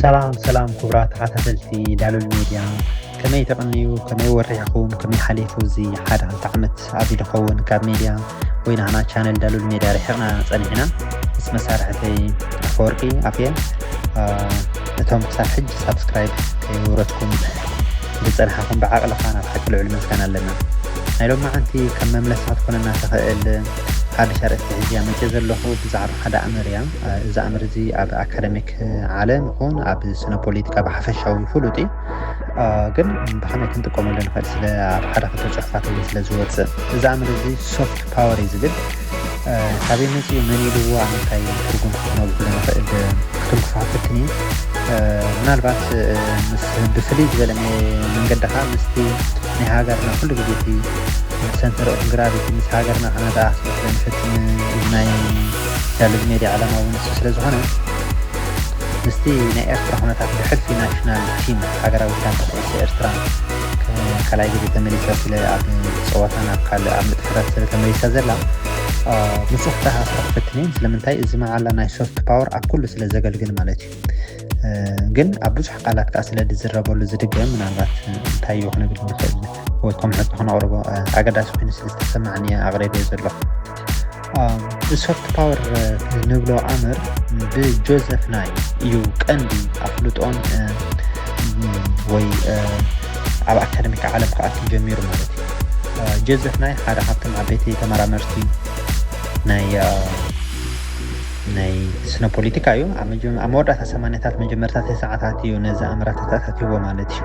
ሰላም ሰላም ክቡራት ተኸታተልቲ ዳሉል ሚድያ ከመይ ተቐንዩ ከመይ ወሪሕኹም ከመይ ሓሊፉ እዚ ሓደ ክልተ ዓመት ኣብዚ ድኸውን ካብ ሚድያ ወይ ናህና ቻነል ዳሉል ሚድያ ርሒቕና ጸኒሕና ምስ መሳርሕተይ ኣፈወርቂ ኣፍየ እቶም ክሳብ ሕጂ ሳብስክራይብ ከይውረትኩም ዝጸንሓኹም ብዓቕልኻ ናብ ሓቂ ልዑል ምስጋና ኣለና ናይ ሎም መዓንቲ ከም መምለሲ ክትኮነና ትኽእል ሓድሽ ኣርእስቲ ሕጂ ኣመፅእ ዘለኹ ብዛዕባ ሓደ ኣምር እያ እዚ ኣምር እዚ ኣብ ኣካደሚክ ዓለም ይኹን ኣብ ስነ ፖለቲካ ብሓፈሻዊ ፍሉጥ እዩ ግን ብኸመይ ክንጥቀመሉ ንኽእል ስለ ኣብ ሓደ ክልተ ፅሑፋት እውን ስለ ዝወፅእ እዚ ኣምር እዚ ሶፍት ፓወር እዩ ዝብል ካበይ መፅኡ መን ኢልዎ ኣብ ምንታይ ትርጉም ክነብሉ ንኽእል ክትንክፋ ፈትኒ ምናልባት ምስ ብፍልይ ዝበለ መንገድኻ ምስቲ ናይ ሃገርና ኩሉ ግዜ እቲ ሰንተር ኦፍ ግራቪቲ ምስ ሃገርና ከነተኣሳስር ንፈትን ናይ ዳሉል ሜድያ ዕላማኡ ውን ንሱ ስለ ዝኾነ ምስቲ ናይ ኤርትራ ኩነታት ብሕልፊ ናሽናል ቲም ሃገራዊት ጋንታ ኩዕሶ ኤርትራ ካልኣይ ግዜ ተመሊሳ ስለ ኣብ ጸወታን ኣብ ካልእ ኣብ ንጥፈታት ስለ ተመሊሳ ዘላ ምስ ክተኣሳሰር ክፍትን እየ ስለምንታይ እዚ መዓላ ናይ ሶፍት ፓወር ኣብ ኩሉ ስለ ዘገልግል ማለት እዩ ግን ኣብ ብዙሕ ቃላት ከዓ ስለ ዝዝረበሉ ዝድገም ምናልባት እንታይ እዩ ክነብል ንኽእል ወይ ከም ሕቶ ክነቕርቦ ኣገዳሲ ኮይኑ ስለ ዝተሰማዕኒ ኣቕሪበ ዘለኹ ብሶፍት ፓወር ንብሎ ኣምር ብጆዘፍ ናይ እዩ ቀንዲ ኣፍልጦን ወይ ኣብ ኣካደሚክ ዓለም ክኣቱ ጀሚሩ ማለት እዩ ጆዘፍ ናይ ሓደ ካብቶም ዓበይቲ ተመራመርቲ ናይ ናይ ስነ ፖለቲካ እዩ ኣብ መወዳእታ ሰማንያታት መጀመርታ ተስዓታት እዩ ነዚ ኣምራተታት ኣትይዎ ማለት እዩ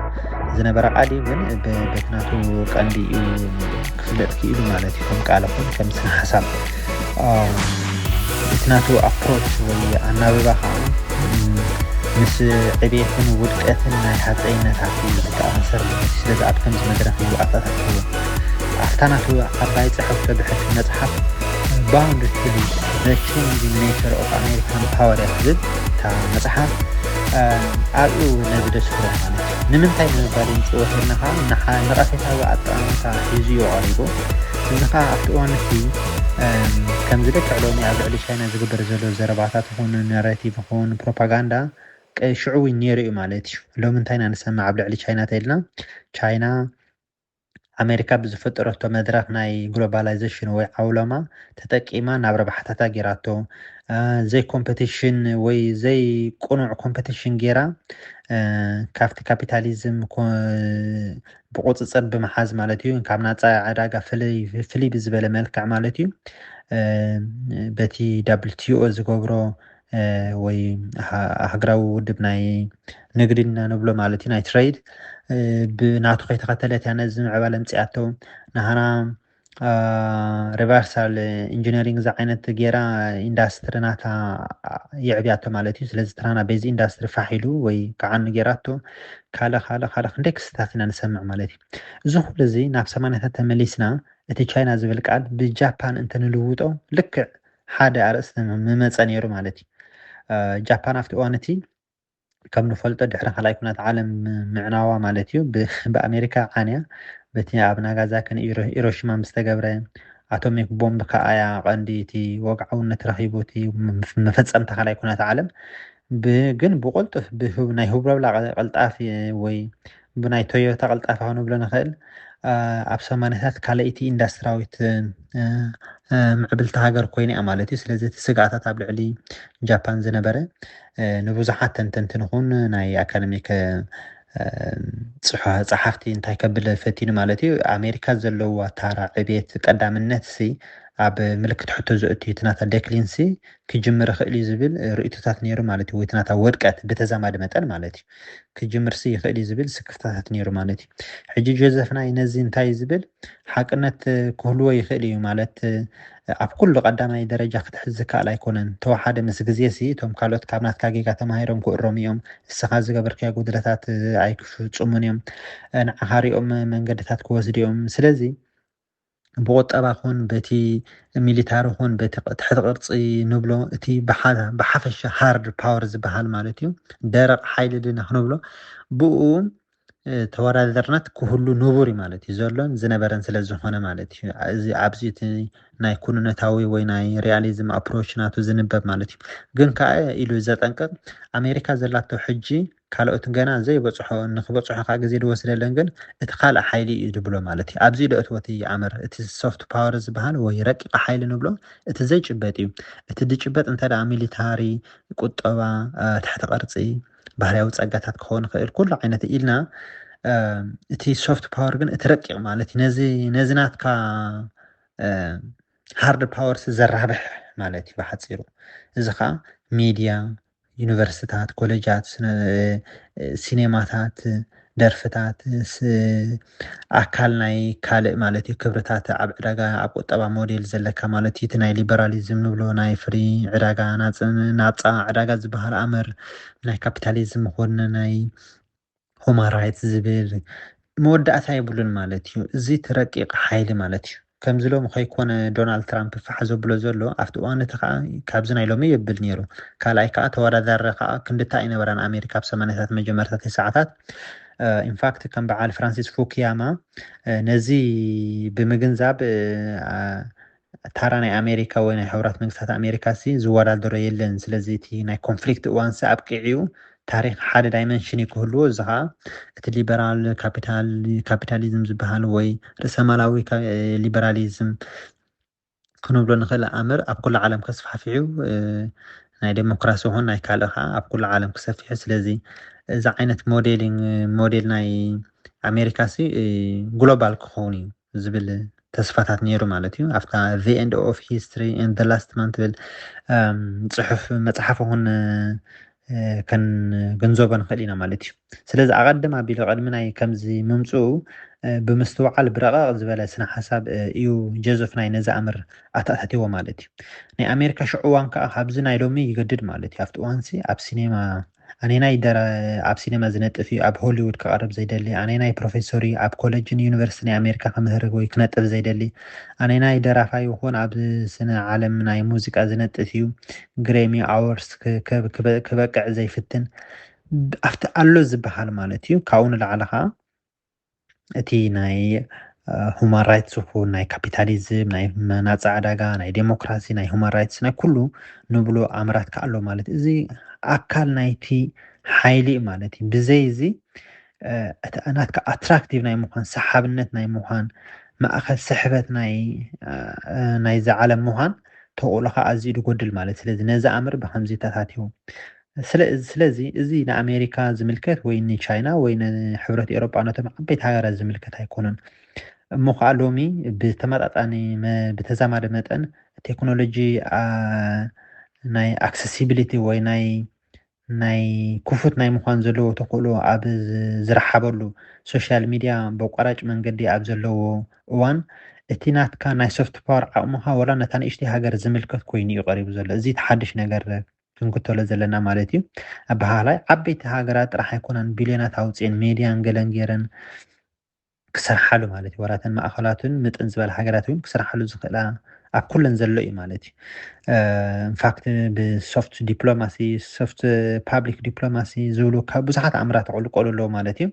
ዝነበረ ቃል እዩ ግን በቲ ናቱ ቀንዲ እዩ ክፍለጥ ክኢሉ ማለት እዩ ከም ቃል ይኹን ከም ስነ ሓሳብ እቲ ናቱ ኣፕሮች ወይ ኣናብባ ከዓ ምስ ዕቤትን ውድቀትን ናይ ሃፀይነታት እዩ ዝተኣሳሰር ማለት እዩ ስለዚ ኣብ ከምዚ መድረክ እዩ ኣተኣታትዎ ኣብታ ናቱ ዓባይ ፅሕፍቶ ብሕልፊ መፅሓፍ ባውንድ ቱ ሊድ ዘ ቼንጂንግ ኔቸር ኦፍ ኣሜሪካን ፓወር እያ ትብል እታ መፅሓፍ ኣብኡ ነዚ ደስ ክብል ማለት እዩ ንምንታይ ንምባል ይንፅወትና ከዓ ንቐፌታዊ ኣጠማምታ ሒዙ እዩ ቀሪቡ እዚ ከዓ ኣብቲ እዋን እቲ ከምዚ ልክዕ ሎሚ ኣብ ልዕሊ ቻይና ዝግበር ዘሎ ዘረባታት ይኹን ናሬቲቭ ይኹን ፕሮፓጋንዳ ሽዑ እውን ነይሩ እዩ ማለት እዩ ሎሚ እንታይ ኢና ንሰምዕ ኣብ ልዕሊ ቻይና ተይልና ቻይና ኣሜሪካ ብዝፈጠረቶ መድረኽ ናይ ግሎባላይዘሽን ወይ ዓውሎማ ተጠቂማ ናብ ረብሓታታ ጌራቶ ዘይ ኮምፐቲሽን ወይ ዘይ ቁኑዕ ኮምፐቲሽን ጌራ ካብቲ ካፒታሊዝም ብቁፅፅር ብምሓዝ ማለት እዩ ካብ ናፃ ዕዳጋ ፍልይ ብዝበለ መልክዕ ማለት እዩ በቲ ዳብልቲኦ ዝገብሮ ወይ ሃገራዊ ውድብ ናይ ንግዲ እና ንብሎ ማለት እዩ ናይ ትረይድ ብናቱ ከይተኸተለት እያ ነዚ ምዕባለ ምፅኣቶ ንሃና ሪቨርሳል ኢንጂነሪንግ እዚ ዓይነት ጌራ ኢንዳስትሪ ናታ የዕብያቶ ማለት እዩ ስለዚ ትራና በዚ ኢንዳስትሪ ፋሕ ኢሉ ወይ ከዓኑ ጌራቶ ካልእ ካልእ ካልእ ክንደይ ክስታት ኢና ንሰምዕ ማለት እዩ እዚ ኩሉ እዚ ናብ ሰማንያታት ተመሊስና እቲ ቻይና ዝብል ቃል ብጃፓን እንተንልውጦ ልክዕ ሓደ ኣርእስቲ ምመጸ ነይሩ ማለት እዩ። ጃፓን ኣብቲ እዋን እቲ ከም ንፈልጦ ድሕሪ ካልኣይ ኩናት ዓለም ምዕናዋ ማለት እዩ ብኣሜሪካ ዓንያ በቲ ኣብ ናጋዛኪ ኢሮሽማ ምስ ተገብረ ኣቶሚክ ቦምብ ከዓ እያ ቀንዲ እቲ ወግዓውነት ረኺቡ እቲ መፈፀምታ ካልኣይ ኩናት ዓለም ግን ብቆልጡፍ ናይ ህብረብላ ቀልጣፊ ወይ ብናይ ቶዮታ ቅልጣፈ ክንብሎ ንኽእል ኣብ ሰማንያታት ካልኣይቲ ኢንዳስትራዊት ምዕብልቲ ሃገር ኮይነ እያ ማለት እዩ ስለዚ እቲ ስግኣታት ኣብ ልዕሊ ጃፓን ዝነበረ ንብዙሓት ተንተንቲ ንኹን ናይ ኣካደሚክ ፀሓፍቲ እንታይ ከብል ፈቲኑ ማለት እዩ ኣሜሪካ ዘለዋ ታራ ዕቤት ቀዳምነት ሲ ኣብ ምልክት ሕቶ ዘእቱ እቲ ናታ ደክሊንሲ ክጅምር ይኽእል እዩ ዝብል ርእቶታት ነይሩ ማለት እዩ ወይ እቲ ናታ ወድቀት ብተዛማዲ መጠን ማለት እዩ ክጅምርሲ ይኽእል እዩ ዝብል ስክፍታታት ነይሩ ማለት እዩ። ሕጂ ጆዘፍ ናይ ነዚ እንታይ ዝብል ሓቅነት ክህልዎ ይኽእል እዩ ማለት ኣብ ኩሉ ቀዳማይ ደረጃ ክትሕዝ ዝከኣል ኣይኮነን። ተወሓደ ምስ ግዜሲ እቶም ካልኦት ካብ ናትካ ጌጋ ተማሂሮም ክእረሙ እዮም። እስኻ ዝገበርካዮ ጉድለታት ኣይክፍጽሙን እዮም። ንዓኻ ሪኦም መንገድታት ክወስዱ እዮም። ስለዚ ብቑጠባ ኹን በቲ ሚሊታሪ ኹን በቲ ትሕቲ ቅርፂ ንብሎ እቲ ብሓፈሻ ሃርድ ፓወር ዝበሃል ማለት እዩ ደረቕ ሓይሊ ድና ክንብሎ ብኡ ተወዳዳርነት ክህሉ ንቡር ማለት እዩ ዘሎን ዝነበረን ስለ ዝኾነ ማለት እዩ እዚ ኣብዚ እቲ ናይ ኩንነታዊ ወይ ናይ ሪያሊዝም ኣፕሮች ናቱ ዝንበብ ማለት እዩ ግን ከዓ ኢሉ ዘጠንቅቕ ኣሜሪካ ዘላቶ ሕጂ ካልኦት ገና ዘይበጽሖ ንክበጽሖ ከኣ ግዜ ድወስደለን ግን እቲ ካልእ ሓይሊ እዩ ድብሎ ማለት እዩ። ኣብዚ ደእትዎ እቲ ይኣምር። እቲ ሶፍት ፓወር ዝበሃል ወይ ረቂቕ ሓይሊ ንብሎ እቲ ዘይጭበጥ እዩ። እቲ ድጭበጥ እንተ ደኣ ሚሊታሪ፣ ቁጠባ፣ ትሕተ ቅርጺ፣ ባህርያዊ ጸጋታት ክኸውን ይኽእል ኩሉ ዓይነት ኢልና እቲ ሶፍት ፓወር ግን እቲ ረቂቕ ማለት እዩ። ነዚ ነዚ ናትካ ሃርድ ፓወርስ ዘራብሕ ማለት እዩ ብሓጺሩ። እዚ ከኣ ሚድያ፣ ዩኒቨርሲታት፣ ኮለጃት፣ ሲኔማታት፣ ደርፍታት፣ ኣካል ናይ ካልእ ማለት እዩ ክብርታት ኣብ ዕዳጋ ኣብ ቁጠባ ሞዴል ዘለካ ማለት እዩ እቲ ናይ ሊበራሊዝም ንብሎ ናይ ፍሪ ዕዳጋ ናጻ ዕዳጋ ዝበሃል ኣምር ናይ ካፒታሊዝም ኾነ ናይ ሁማን ራይትስ ዝብል መወዳእታ የብሉን ማለት እዩ። እዚ እቲ ረቂቕ ሓይሊ ማለት እዩ። ከምዚ ሎሚ ከይኮነ ዶናልድ ትራምፕ ፋሕ ዘብሎ ዘሎ ኣብቲ እዋን እቲ ከኣ ካብዚ ናይ ሎሚ የብል ነይሩ። ካልኣይ ከኣ ተወዳዳሪ ከኣ ክንድቲ ኣይነበራን ኣሜሪካ ኣብ ሰማንያታት መጀመርታ ተስዓታት ኢንፋክት ከም በዓል ፍራንሲስ ፉኩያማ ነዚ ብምግንዛብ ታራ ናይ ኣሜሪካ ወይ ናይ ሕቡራት መንግስታት ኣሜሪካሲ ዝወዳደሮ የለን ስለዚ እቲ ናይ ኮንፍሊክት እዋንሲ ኣብቂዑዩ ታሪኽ ሓደ ዳይመንሽንዩ ክህልዎ እዚ ከኣ እቲ ሊበራል ካፒታል ካፒታሊዝም ዝበሃል ወይ ርእሰማላዊ ሊበራሊዝም ክንብሎ ንኽእል ኣምር ኣብ ኩሉ ዓለም ከስፋሕፊሑ ናይ ደሞክራሲ ይኹን ናይ ካልእ ከኣ ኣብ ኩሉ ዓለም ክሰፊሑ ስለዚ እዚ ዓይነት ሞዴሊንግ ሞዴል ናይ ኣሜሪካሲ ግሎባል ክኸውን እዩ ዝብል ተስፋታት ነይሩ ማለት እዩ ኣብታ the end of history and the last man ትብል ፅሑፍ መፅሓፍ ኹን ከንግንዘቦ ንኽእል ኢና ማለት እዩ ስለዚ ኣቐድም ኣቢሉ ቅድሚ ናይ ከምዚ ምምፅኡ ብምስትውዓል ብረቐቕ ዝበለ ስነ ሓሳብ እዩ ጀዞፍ ናይ ነዚ ኣምር ኣተኣታትዎ ማለት እዩ ናይ ኣሜሪካ ሽዑ እዋን ከዓ ካብዚ ናይ ሎሚ ይገድድ ማለት እዩ ኣብቲ እዋንሲ ኣብ ሲኔማ ኣነናይ ደራ ኣብ ሲነማ ዝነጥፍ እዩ ኣብ ሆሊዉድ ክቐርብ ዘይደሊ? ኣነናይ ፕሮፌሶር እዩ ኣብ ኮለጅን ዩኒቨርሲቲ ናይ ኣሜሪካ ክምህር ወይ ክነጥፍ ዘይደሊ? ኣነናይ ደራፋይ ይኹን ኣብ ስነ ዓለም ናይ ሙዚቃ ዝነጥፍ እዩ ግሬሚ ኣዎርስ ክበቅዕ ዘይፍትን? ኣብቲ ኣሎ ዝበሃል ማለት እዩ። ካብኡ ንላዕሊ ከኣ እቲ ናይ ሁማን ራይትስ ይኹን ናይ ካፒታሊዝም ናይ ናፃ ዕዳጋ ናይ ዴሞክራሲ ናይ ሁማን ራይትስ ናይ ኩሉ ንብሎ ኣምራት ከዓ ኣሎ ማለት እዩ። እዚ ኣካል ናይቲ ሓይሊ እዩ ማለት እዩ። ብዘይ እዚ እ፣ እቲ ናትካ ኣትራክቲቭ ናይ ምዃን ሰሓብነት ናይ ምዃን ማእኸል ስሕበት ናይ እ፣ እ፣ ናይዛ ዓለም ምዃን ተኽእሎኻ ኣዝዩ ድጎድል ማለት እዩ። ስለዚ ነዚ ኣምር ብከምዚ ተታቲዩ ስለዚ እዚ ንኣሜሪካ ዝምልከት ወይ ንቻይና ወይ ንሕብረት ኤውሮጳ ነቶም ዓበይቲ ሃገራት ዝምልከት ኣይኮነን። እሞ ከኣ ሎሚ ብተመጣጣኒ ብተዛማዲ መጠን ቴክኖሎጂ ናይ ኣክሰሲቢሊቲ ወይ ናይ ናይ ክፉት ናይ ምዃን ዘለዎ ተኽእሎ ኣብ ዝረሓበሉ ሶሻል ሚድያ በቋራጭ መንገዲ ኣብ ዘለዎ እዋን እቲ ናትካ ናይ ሶፍት ፓወር ዓቕምኻ ወላ ነታ ንእሽተይ ሃገር ዝምልከት ኮይኑ እዩ ቀሪቡ ዘሎ እዚ ተሓድሽ ነገር ክንክተሎ ዘለና ማለት እዩ ኣበሃህላይ ዓበይቲ ሃገራት ጥራሕ ኣይኮናን ቢልዮናት ኣውፅኤን ሜድያን ገለን ገይረን ክሰርሓሉ ማለት እዩ ወራተን ማእኸላቱን ምጥን ዝበለ ሃገራት እውን ክሰርሓሉ ዝኽእላ ኣብ ኩለን ዘሎ እዩ ማለት እዩ ኢንፋክት ብሶፍት ዲፕሎማሲ ሶፍት ፓብሊክ ዲፕሎማሲ ዝብሉ ካብ ብዙሓት ኣምራት ክዕልቀሉ ኣለዎ ማለት እዩ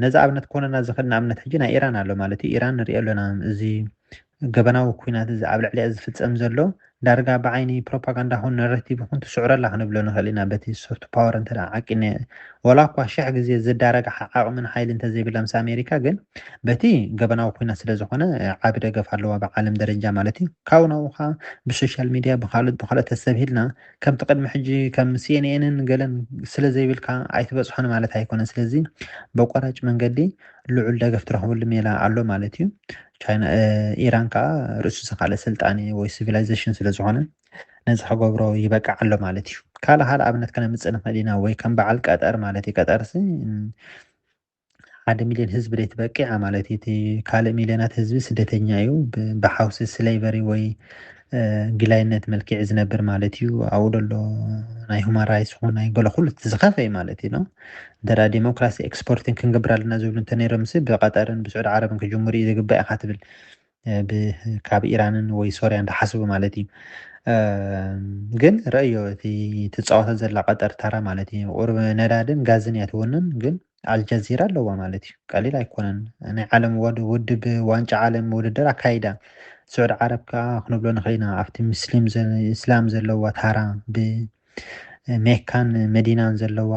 ነዚ ኣብነት ኮነና ዝኽእል ንኣብነት ሕጂ ናይ ኢራን ኣሎ ማለት እዩ ኢራን ንሪኦ ኣለና እዚ ገበናዊ ኩናት እዚ ኣብ ልዕሊኣ ዝፍጸም ዘሎ ዳርጋ ብዓይኒ ፕሮፓጋንዳ ኹን ነረቲቭ ኹን ትስዕሮ ኣላ ክንብሎ ንኽእል ኢና በቲ ሶፍት ፓወር እንተድኣ ዓቂነ ዋላኳ ሽሕ ግዜ ዘዳረግሓ ዓቕምን ሓይሊ እንተዘይብላ ምስ ኣሜሪካ ግን በቲ ገበናዊ ኩናት ስለዝኾነ ዓቢ ደገፍ ኣለዋ ብዓለም ደረጃ ማለት እዩ ካብኡ ናብኡ ኸኣ ብሶሻል ሚድያ ብኻልኦት ብኻልኦት ተሰብሂልና ከምቲ ቅድሚ ሕጂ ከም ሲኤንኤንን ገለን ስለዘይብልካ ኣይትበጽሖን ማለት ኣይኮነን ስለዚ በቋራጭ መንገዲ ልዑል ደገፍ ትረኽበሉ ሜላ ኣሎ ማለት እዩ። ቻይና ኢራን ከዓ ርእሱ ዝኻለ ስልጣኔ ወይ ሲቪላይዜሽን ስለ ዝኾነ ነዚ ክገብሮ ይበቅዕ ኣሎ ማለት እዩ። ካልእ ካልእ ኣብነት ከነምፅእ ንኽእል ኢና ወይ ከም በዓል ቀጠር ማለት እዩ። ቀጠርሲ ሓደ ሚሊዮን ህዝቢ ደይ ትበቂዓ ማለት እዩ። እቲ ካልእ ሚሊዮናት ህዝቢ ስደተኛ እዩ ብሓውሲ ስሌቨሪ ወይ ጊላይነት መልኪዒ ዝነብር ማለት እዩ ኣብኡ ደሎ ናይ ሁማን ራይትስ ኹን ናይ ገለ ኩሉ እቲ ዝኸፈ እዩ ማለት እዩ ኖ እንተ ዴሞክራሲ ኤክስፖርትን ክንገብር ኣለና ዝብሉ እንተ ነይሮምሲ ብቀጠርን ብስዑድ ዓረብን ክጅምሩ እዩ ዝግባእ ኢኻ ትብል ካብ ኢራንን ወይ ሶርያ እንዳሓስቡ ማለት እዩ ግን ረእዮ እቲ ትፃወታ ዘላ ቀጠር ተራ ማለት እዩ ቁርብ ነዳድን ጋዝን እያ ትውንን ግን ኣልጀዚራ ኣለዋ ማለት እዩ ቀሊል ኣይኮነን ናይ ዓለም ውድብ ዋንጫ ዓለም ውድድር ኣካይዳ ስዑድ ዓረብ ከዓ ክንብሎ ንኽእል ኢና ኣብቲ ምስሊም እስላም ዘለዋ ታራ ብ ሜካን መዲናን ዘለዋ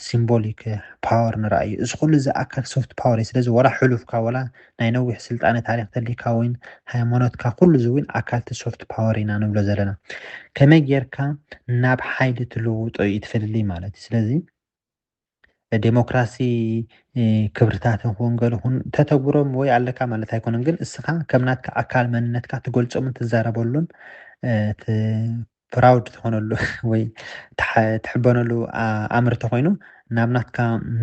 ሲምቦሊክ ፓወር ንርኣ እዩ እዚ ኩሉ እዚ ኣካል ሶፍት ፓወር እዩ ስለዚ ወላ ሕሉፍካ ወላ ናይ ነዊሕ ስልጣነ ታሪክ ተሊካ ወይን ሃይማኖትካ ኩሉ እዚ እውን ኣካልቲ ሶፍት ፓወር ኢና ንብሎ ዘለና ከመይ ጌርካ ናብ ሓይሊ ትልውጦ እዩ ትፈልልይ ማለት እዩ ስለዚ ደሞክራሲ ክብርታት ይኹን ገለ ይኹን ተተግብሮም ወይ ኣለካ ማለት ኣይኮነን፣ ግን እስኻ ከም ናትካ ኣካል መንነትካ ትገልጾምን ትዛረበሉን ፕራውድ ትኾነሉ ወይ ትሕበነሉ ኣምር ተኾይኑ ናብ ናትካ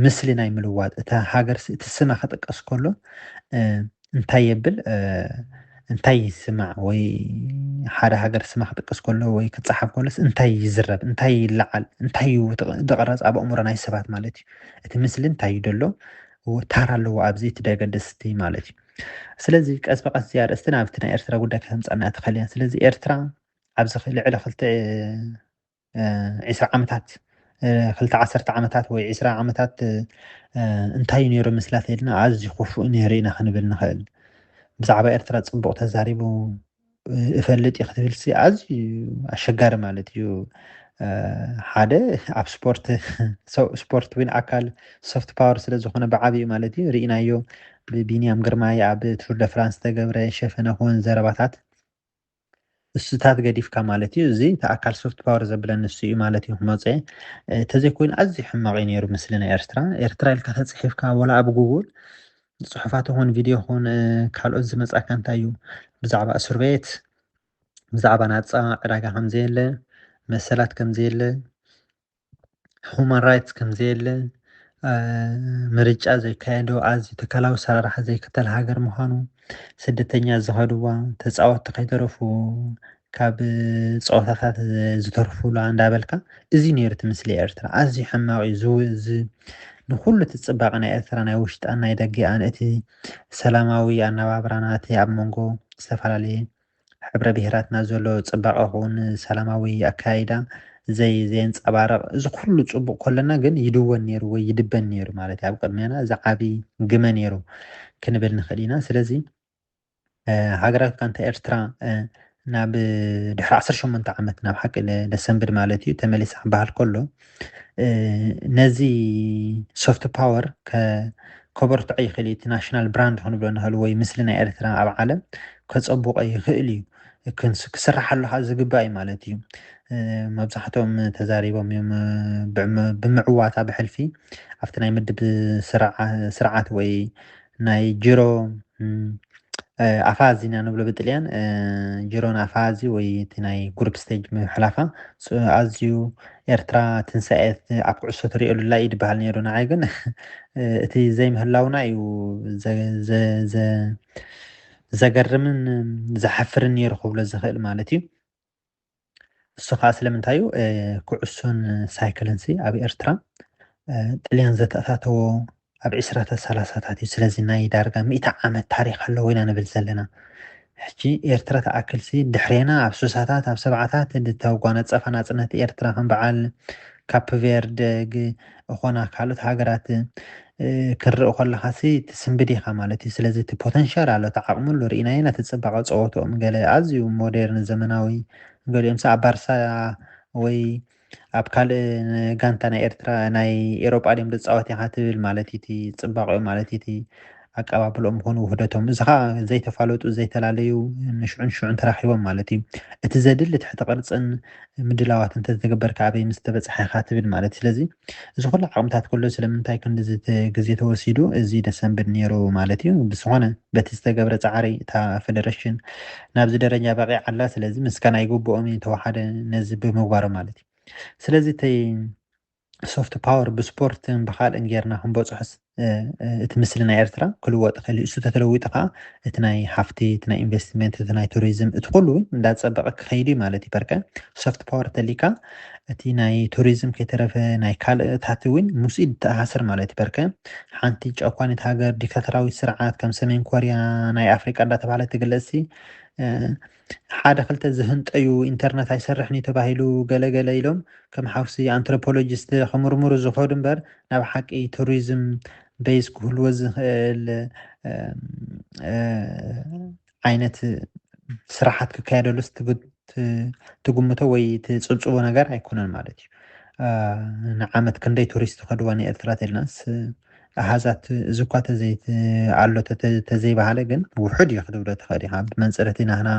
ምስሊ ናይ ምልዋጥ እታ ሃገር እቲ ስማ ክጥቀስ ከሎ እንታይ የብል እንታይ ይስማዕ ወይ ሓደ ሃገር ስማ ክጥቀስ ከሎ ወይ ክፀሓፍ ከሎስ እንታይ ይዝረብ እንታይ ይለዓል እንታይ እዩ ድቕረፅ ኣብ ኣእምሮ ናይ ሰባት ማለት እዩ እቲ ምስሊ እንታይ እዩ ደሎ ታራ ኣለዎ ኣብዚ እቲ ደገደስቲ ማለት እዩ ስለዚ ቀስ ብቀስ እዚ ኣርእስቲ ናብቲ ናይ ኤርትራ ጉዳይ ከተምፀና ተኸልያ ስለዚ ኤርትራ ኣብዚ ልዕሊ ክልተ ዒስራ ዓመታት ክልተ ዓሰርተ ዓመታት ወይ ዒስራ ዓመታት እንታይ እዩ ነይሩ ምስላ ተይልና ኣዝዩ ክፉእ ነይሩ ኢና ክንብል ንኽእል ብዛዕባ ኤርትራ ጽቡቕ ተዛሪቡ እፈልጥ እዩ ክትብልሲ ኣዝዩ ኣሸጋሪ ማለት እዩ ሓደ ኣብ ስፖርት ስፖርት ውን ኣካል ሶፍት ፓወር ስለ ዝኾነ ብዓብዩ ማለት እዩ ርኢናዮ ብቢንያም ግርማይ ኣብ ቱር ደ ፍራንስ ተገብረ ሸፈነ ክውን ዘረባታት ንሱታት ገዲፍካ ማለት እዩ እዚ እቲ ኣካል ሶፍት ፓወር ዘብለን ንሱ እዩ ማለት እዩ ክመፅእ ተዘይኮይኑ ኣዝዩ ሕማቕ እዩ ነይሩ ምስሊ ናይ ኤርትራ ኤርትራ ኢልካ ተፅሒፍካ ወላ ኣብ ጉጉል ፅሑፋት ኹን ቪድዮ ኹን ካልኦት ዝመፃካ እንታይ እዩ ብዛዕባ እስር ቤት ብዛዕባ ናፃ ዕዳጋ ከምዘየለ መሰላት ከምዘየለ ሁማን ራይትስ ከምዘየለ ምርጫ ዘይካየዶ ኣዝዩ ተካላዊ ሰራርሓ ዘይክተል ሃገር ምዃኑ ስደተኛ ዝኸድዋ ተፃወቲ ከይተረፉ ካብ ፀወታታት ዝተርፉላ እንዳበልካ እዚ ነይሩ እቲ ምስሊ ኤርትራ ኣዝዩ ሕማቕ እዩ ዝውእዝ ንኩሉ እቲ ፅባቐ ናይ ኤርትራ ናይ ውሽጣን ናይ ደገኣን እቲ ሰላማዊ ኣነባብራና እቲ ኣብ መንጎ ዝተፈላለየ ሕብረ ብሄራትና ዘሎ ፅባቐ ኹን ሰላማዊ ኣከያይዳ ዘይ ዘየንፀባረቕ እዚ ኩሉ ፅቡቕ ኮለና ግን ይድወን ነይሩ ወይ ይድበን ነይሩ ማለት ኣብ ቅድሜና እዚ ዓቢ ግመ ነይሩ ክንብል ንኽእል ኢና ስለዚ ሃገራዊት ጋንታ ኤርትራ ናብ ድሕሪ ዓሰርተ ሸሞንተ ዓመት ናብ ሓቂ ደሰንብድ ማለት እዩ ተመሊሳ ክበሃል ከሎ ነዚ ሶፍት ፓወር ከበርትዖ ይኽእል እዩ እቲ ናሽናል ብራንድ ክንብሎ ንኽእል ወይ ምስሊ ናይ ኤርትራ ኣብ ዓለም ከፀቡቆ ይኽእል እዩ ክስራሓሉ ከዓ ዝግባእ እዩ ማለት እዩ መብዛሕትኦም ተዛሪቦም እዮም ብምዕዋታ ብሕልፊ ኣብቲ ናይ ምድብ ስርዓት ወይ ናይ ጅሮ ኣፋዚ ኢና ንብሎ ብጥልያን ጅሮን ኣፋዚ ወይ እቲ ናይ ግሩፕ ስቴጅ ምሕላፋ ኣዝዩ ኤርትራ ትንሳኤ ኣብ ኩዕሶ ትሪእሉ ላ ኢድ በሃል ነይሩ ንዓይ ግን እቲ ዘይምህላውና እዩ ዘገርምን ዘሓፍርን ነይሩ ክብሎ ዝኽእል ማለት እዩ እሱ ከዓ ስለምንታይ እዩ ኩዕሶን ሳይክልን ሲ ኣብ ኤርትራ ጥልያን ዘተኣታተዎ ኣብ ዕስራታት ሰላሳታት እዩ ስለዚ ናይ ዳርጋ ሚእቲ ዓመት ታሪክ ኣለዎ ኢና ንብል ዘለና ሕጂ ኤርትራ ተኣክልሲ ድሕሬና ኣብ ሱሳታት ኣብ ሰብዓታት ዝተጓነፀፋ ናፅነት ኤርትራ ከም በዓል ካፕቨርድ ኾና ካልኦት ሃገራት ክርእ ከለኻሲ ትስንብድ ኢኻ ማለት እዩ ስለዚ እቲ ፖተንሻል ኣሎ እቲ ዓቕሚ ኣሎ ርኢናዮ ነቲ ፅባቐ ፀወትኦም ገለ ኣዝዩ ሞዴርን ዘመናዊ ገሊኦምሲ ኣብ ባርሳ ወይ ኣብ ካልእ ጋንታ ናይ ኤርትራ ናይ ኤሮጳ ድዮም ዝፃወት ኢኻ ትብል ማለት እቲ ፅባቐኦም ማለት እቲ ኣቀባብልኦም ይኹን ውህደቶም እዚ ከዓ ዘይተፋለጡ ዘይተላለዩ ንሽዑን ሽዑን ተራኺቦም ማለት እዩ እቲ ዘድሊ ትሕቲ ቅርፅን ምድላዋት እንተዝተገበርካ ኣበይ ምስ ተበፅሐ ኢኻ ትብል ማለት እዩ ስለዚ እዚ ኩሉ ዓቕምታት ከሎ ስለምንታይ ክንዲዚ ግዜ ተወሲዱ እዚ ደሰንብድ ነይሩ ማለት እዩ ብዝኾነ በቲ ዝተገብረ ፃዕሪ እታ ፌደሬሽን ናብዚ ደረጃ በቂዓ ኣላ ስለዚ ምስጋና ይግብኦም እዩ ተዋሓደ ነዚ ብምግባሩ ማለት እዩ ስለዚ እቲ ሶፍት ፓወር ብስፖርትን ብካልእን ጌርና ክንበፅሖስ እቲ ምስሊ ናይ ኤርትራ ክልወጥ ይኽእል እዩ። እሱ ተተለዊጡ ከዓ እቲ ናይ ሃፍቲ፣ እቲ ናይ ኢንቨስትመንት፣ እቲ ናይ ቱሪዝም እቲ ኩሉ እንዳፀበቐ ክኸይድ እዩ ማለት እዩ። በርከ ሶፍት ፓወር ተሊካ እቲ ናይ ቱሪዝም ከይተረፈ ናይ ካልእታት እውን ምስኡ ይተኣሳሰር ማለት እዩ። በርከ ሓንቲ ጨኳኒት ሃገር ዲክታተራዊት ስርዓት ከም ሰሜን ኮርያ ናይ ኣፍሪቃ እንዳተባህለ ትግለፅሲ ሓደ ክልተ ዝህንጠዩ ኢንተርነት ኣይሰርሕን እዩ ተባሂሉ ገለ ገለ ኢሎም ከም ሓውሲ ኣንትሮፖሎጂስት ክምርምሩ ዝኸዱ እምበር ናብ ሓቂ ቱሪዝም በይዝ ክህልዎ ዝኽእል ዓይነት ስራሓት ክካየደሉስ ትግምቶ ወይ ትፅብፅቦ ነገር ኣይኮነን ማለት እዩ ንዓመት ክንደይ ቱሪስት ከድዋ ንኤርትራ ተልናስ ኣሃዛት እዚኳ ኣሎ ተዘይበሃለ ግን ውሑድ እዩ ክትብሎ ትኽእል ኢኻ። ብመንጽር እቲ ናህና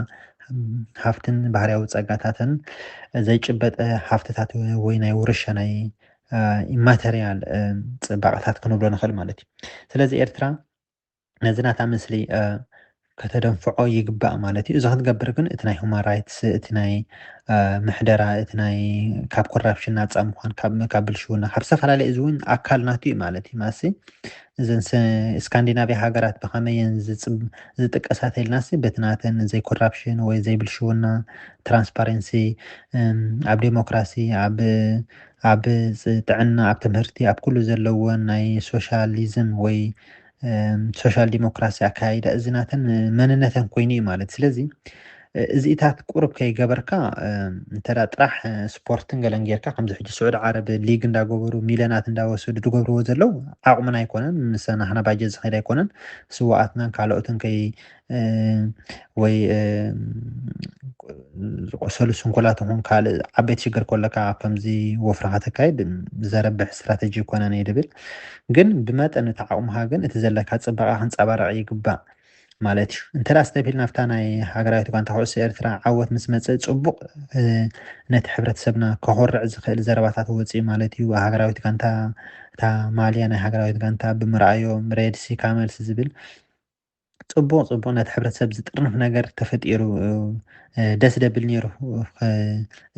ሃፍትን ባህርያዊ ጸጋታትን ዘይጭበጠ ሃፍትታት ወይ ናይ ውርሻ ናይ ኢማተርያል ጽባቐታት ክንብሎ ንኽእል ማለት እዩ። ስለዚ ኤርትራ ነዚ ናታ ምስሊ ከተደንፍዖ ይግባእ ማለት እዩ። እዚ ክትገብር ግን እቲ ናይ ሁማን ራይትስ እቲ ናይ ምሕደራ እቲ ናይ ካብ ኮራፕሽን ናፃ ምኳን ካብ ብልሽውና ካብ ዝተፈላለየ እዚ እውን ኣካል ናቱ እዩ ማለት እዩ ማሲ እዘን ስካንዲናቪያ ሃገራት ብኸመየን ዝጥቀሳ ተልናሲ በቲ ናተን ዘይ ኮራፕሽን ወይ ዘይ ብልሽውና ትራንስፓረንሲ ኣብ ዴሞክራሲ ኣብ ኣብ ጥዕና ኣብ ትምህርቲ ኣብ ኩሉ ዘለዎን ናይ ሶሻሊዝም ወይ ሶሻል ዲሞክራሲ ኣከያይዳ እዚ ናተን መንነተን ኮይኑ እዩ ማለት ስለዚ እዚኢታት ቁርብ ከይገበርካ እንተ ጥራሕ ስፖርትን ገለን ጌርካ ከምዚ ሕጂ ስዑድ ዓረብ ሊግ እንዳገበሩ ሚልዮናት እንዳወሰዱ ዝገብርዎ ዘለው ዓቕሙን ኣይኮነን ምስ ናህና ባጀት ዝኸይድ ኣይኮነን ስዋኣትናን ካልኦትን ከይ ወይ ዝቆሰሉ ስንኩላት ይኹን ካልእ ዓበይቲ ሽግር ከሎካ ኣብ ከምዚ ወፍሪ ከተካይድ ዘረብሕ ስትራተጂ ኣይኮነን እየ ድብል ግን ብመጠን እቲ ዓቕምኻ ግን እቲ ዘለካ ፅባቐ ክንፀባረቕ ይግባእ ማለት እዩ እንተ ስተብሂል ናብታ ናይ ሃገራዊት ጋንታ ኩዕሶ ኤርትራ ዓወት ምስ መፅእ ፅቡቕ ነቲ ሕብረተሰብና ከኮርዕ ዝኽእል ዘረባታት ወፅኢ ማለት እዩ ሃገራዊት ጋንታ እታ ማልያ ናይ ሃገራዊት ጋንታ ብምርኣዮም ሬድሲ ካመልሲ ዝብል ጽቡቅ ጽቡቅ ነቲ ሕብረተሰብ ዝጥርንፍ ነገር ተፈጢሩ ደስ ደብል ነይሩ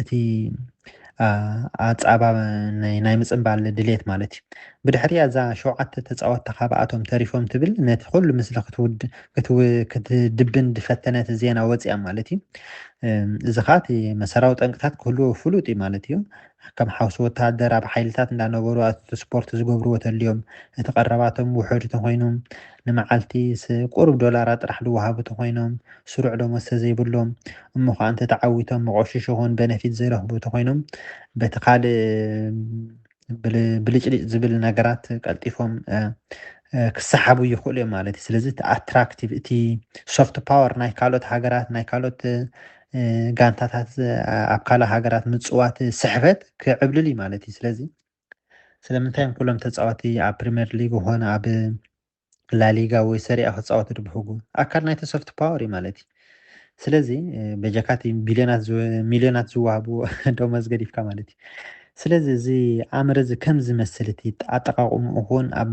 እቲ ኣጻባ ናይ ምጽምባል ድሌት ማለት እዩ ብድሕሪ እዛ ሸውዓተ ተጻወትቲ ካብኣቶም ተሪፎም ትብል ነቲ ኩሉ ምስሊ ክትድብን ዝፈተነት ዜና ወፅያ ማለት እዩ እዚ ከዓ እቲ መሰራዊ ጠንቅታት ክህልዎ ፍሉጥ እዩ ማለት እዩ ከም ሓውሲ ወተሃደር ኣብ ሓይልታት እንዳነበሩ ኣቲ ስፖርት ዝገብርዎ ተልዮም እቲ ቀረባቶም ውሑድ ተኮይኑ ንመዓልቲስ ቁሩብ ዶላራት ጥራሕ ድወሃቡ ተኾይኖም ስሩዕ ደሞዝ ተዘይብሎም እሞ ኸኣ እንተ ተዓዊቶም መቖሽሽ ይኹን በነፊት ዘይረኽቡ ተኾይኖም በቲ ካልእ ብልጭልጭ ዝብል ነገራት ቀልጢፎም ክሰሓቡ ይኽእሉ እዮም ማለት እዩ ስለዚ እቲ ኣትራክቲቭ እቲ ሶፍት ፓወር ናይ ካልኦት ሃገራት ናይ ካልኦት ጋንታታት ኣብ ካልእ ሃገራት ምፅዋት ስሕበት ክዕብልል እዩ ማለት እዩ ስለዚ ስለምንታይ እዮም ኩሎም ተጻወቲ ኣብ ፕሪመር ሊግ ኾነ ኣብ ላሊጋ ወይ ሰሪኣ ክጻወቱ ድብሕጉ ኣካል ናይቲ ሶፍት ፓወር እዩ ማለት እዩ ስለዚ በጀካ እቲ ቢልዮናት ሚልዮናት ዝዋሃብዎ ደሞዝ ገዲፍካ ማለት እዩ ስለዚ እዚ ኣምር እዚ ከም ዝመስል እቲ ኣጠቃቅምኡ ኹን ኣብ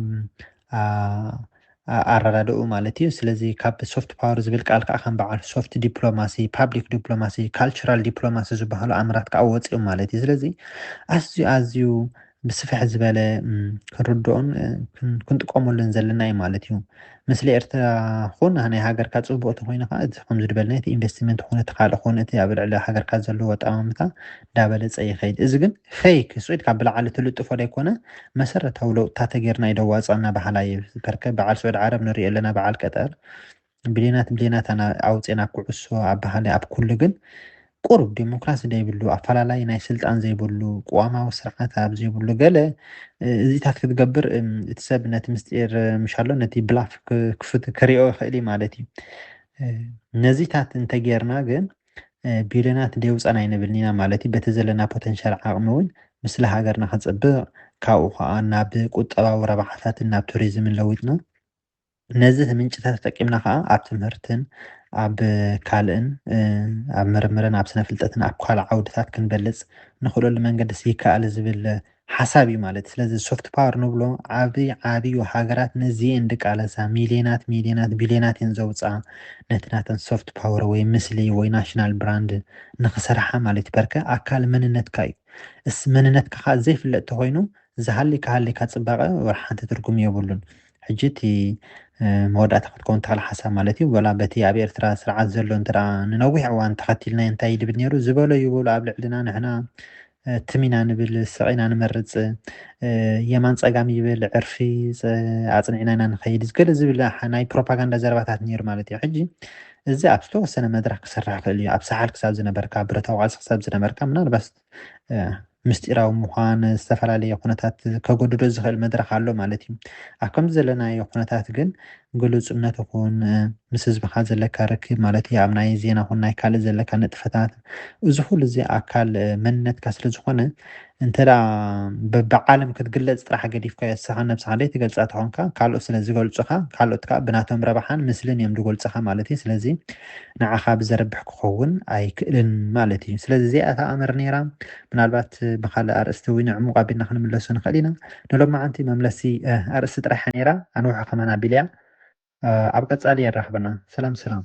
ኣኣረዳድእኡ ማለት እዩ። ስለዚ ካብ ሶፍት ፓወር ዝብል ቃል ከዓ ከም በዓል ሶፍት ዲፕሎማሲ፣ ፓብሊክ ዲፕሎማሲ፣ ካልቸራል ዲፕሎማሲ ዝበሃሉ ኣምራት ከዓ ወፂኦም ማለት እዩ። ስለዚ ኣዝዩ ኣዝዩ ብስፍሕ ዝበለ ክንርድኦን ክንጥቀመሉን ዘለና እዩ ማለት እዩ። ምስሊ ኤርትራ ኹን ናይ ሃገርካ ፅቡቕ ተኾይኑ ከዓ እቲ ከምዚ ዝበልናዮ እቲ ኢንቨስትመንት ኹን እቲ ካልእ ኹን እቲ ኣብ ልዕሊ ሃገርካ ዘለዎ ኣጠማምታ ዳበለጸ ይኸይድ እዚ ግን ፈይክ ስዒድ ካብ ብላዕሊ ትልጥፎ ደይኮነ መሰረታዊ ለውጥታ ተገርና እዩ ደዋጽኣና በሃላይ እዩ ከርከብ በዓል ስዑድ ዓረብ ንሪኦ ኣለና በዓል ቀጠር ብሌናት ብሌናት ኣና ኣውጼና ኩዕሶ ኣብ በሃላይ ኣብ ኩሉ ግን ቁሩብ ዴሞክራሲ ዘይብሉ ኣፈላላይ ናይ ስልጣን ዘይብሉ ቅዋማዊ ስርዓት ኣብ ዘይብሉ ገለ እዚታት ክትገብር እቲ ሰብ ነቲ ምስጢር ምሻሎ ነቲ ብላፍ ክፍት ክሪኦ ይኽእል ማለት እዩ ነዚታት እንተጌርና ግን ቢልዮናት ደይ ውጻን ኣይንብልን ኢና ማለት እዩ። በቲ ዘለና ፖተንሻል ዓቕሚ እውን ምስሊ ሃገርና ክጽብቕ ካብኡ ከኣ ናብ ቁጠባዊ ረብሓታትን ናብ ቱሪዝምን ለዊጥና ነዚ ምንጭታት ተጠቂምና ከኣ ኣብ ትምህርትን ኣብ ካልእን ኣብ ምርምርን ኣብ ስነ ፍልጠትን ኣብ ካልእ ዓውድታት ክንበልጽ ንኽእለሉ መንገድስ ይከኣል ዝብል ሓሳብ እዩ ማለት ስለዚ ሶፍት ፓወር ንብሎ ዓቢ ዓብዩ ሃገራት ነዚ እየን ድቃለሳ ሚልዮናት ሚልዮናት ቢልዮናት እየን ዘውጽኣ ነቲ ናተን ሶፍት ፓወር ወይ ምስሊ ወይ ናሽናል ብራንድ ንኽሰርሓ ማለት በርከ ኣካል መንነትካ እዩ እስ መንነትካ ከኣ ዘይፍለጥ ተኾይኑ ዝሃሊካ ሃሊካ ጽባቐ ወር ሓንቲ ትርጉም የብሉን ሕጂ እቲ መወዳእታ ክትከውን ተኽእል ሓሳብ ማለት እዩ ወላ በቲ ኣብ ኤርትራ ስርዓት ዘሎ እንተ ንነዊሕ እዋን ተኸቲልናዮ እንታይ ይብል ነይሩ ዝበሎ ይበሉ ኣብ ልዕልና ንሕና ትም ኢና ንብል ስቕ ኢና ንመርጽ የማን ጸጋም ይብል ዕርፊ ኣጽኒዕና ኢና ንኸይድ ገለ ዝብል ናይ ፕሮፓጋንዳ ዘረባታት ነይሩ ማለት እዩ ሕጂ እዚ ኣብ ዝተወሰነ መድረኽ ክስራሕ ክእል እዩ ኣብ ሰሓል ክሳብ ዝነበርካ ብረታዊ ቃልሲ ክሳብ ዝነበርካ ምናልባት ምስጢራዊ ምዃን ዝተፈላለየ ኩነታት ከገድዶ ዝኽእል መድረኽ ኣሎ ማለት እዩ ኣብ ከምዚ ዘለናዮ ኩነታት ግን ግሉጽነት ኹን ምስ ህዝብኻ ዘለካ ርክብ ማለት እዩ ኣብ ናይ ዜና ኹን ናይ ካልእ ዘለካ ንጥፈታት እዚ ኩሉ እዚ ኣካል መንነትካ ስለ ዝኾነ እንተ በቢ ዓለም ክትግለጽ ጥራሕ ገዲፍካዮ ንስኻ ነብስኻ ደይትገልጻ ተኾንካ ካልኦት ስለ ዝገልጹኻ ካልኦት ከኣ ብናቶም ረብሓን ምስልን እዮም ድጎልጽኻ ማለት እዩ ስለዚ ንዓኻ ብዘረብሕ ክኸውን ኣይክእልን ማለት እዩ ስለዚ እዚኣ እታ ኣምር ነይራ ምናልባት ብካልእ ኣርእስቲ እውን ዕሙቕ ኣቢልና ክንምለሶ ንኽእል ኢና ንሎማዓንቲ መምለሲ ኣርእስቲ ጥራሕ እያ ነይራ ኣንውሖ ከማን ኣቢለያ ኣብ ቀጻሊ የራኽበና ሰላም ሰላም